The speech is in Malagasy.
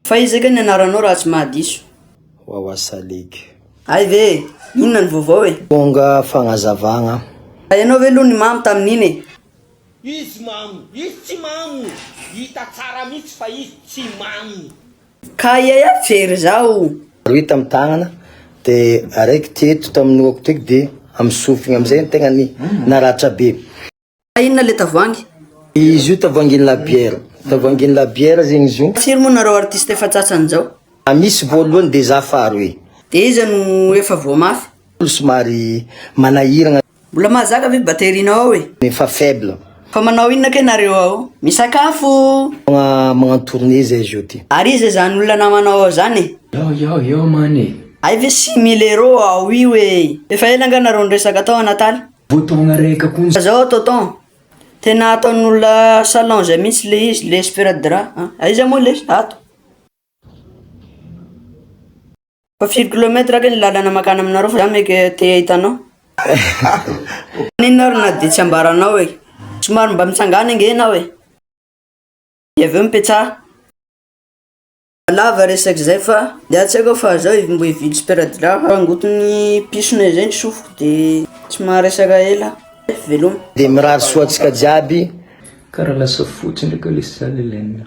Fa iza kay ny anaranao raha tsy mahadiso? Wawa Salik. Hay ve e! Inona ny vaovao e? Tonga fagnazavagna. Fa ianao ve aloha nimamo tamin'iny e? Izy mamo! Izy tsy mamo! Hita tsara mihitsy fa izy tsy mamo! Ka aia aia very zaho? Rohy tamin'ny tagnana, dia araiky teto tamin'ny lohako teto dia amin'ny sofigny amin'izay ny tegnany naratra be. Fa inona le tavoangy? Izy io tavoangin la bière. Tavoangin la bière zegny izy io. Firy moa nareo artiste efa tratran izao? A misy voalohany de za faro e. De iza no efa voa mafy? Olo somary manahiragna. Mbola mahazaka ve batterie nao ao e? Efa faible. Fa manao inona kay nareo ao? Misakafo! Magna magnano tournée zay izy io ty. Ary iza izany olona namanao ao zany e? Yao yao yao man e. Hay ve six mille euro ao io ee. Efa ela nga nareo niresaka tao a Nataly? Bouton araiky koa ny. Zao tonton, tena ataon'olona salon zay mihitsy le izy, le sparadrap an, aiza moa le izy? Ato? Fa firy kilomètre ake ny lalana makany aminareo fa za meka te ahita anao? Maninona ary na de tsy ambaranao e? Somary mba mitsangana ange enao e? De avy eo mipetsaha. Lava resaka izay fa dia tsy haiko fa zao mbo hividy sparadrap hangoton'ny pisona izay ny sofiko de tsy maharesaka ela aho. Veloma. Dia mirary soa antsika jiaby. Kara lasa fotsy ndray ka lesy za Lelena.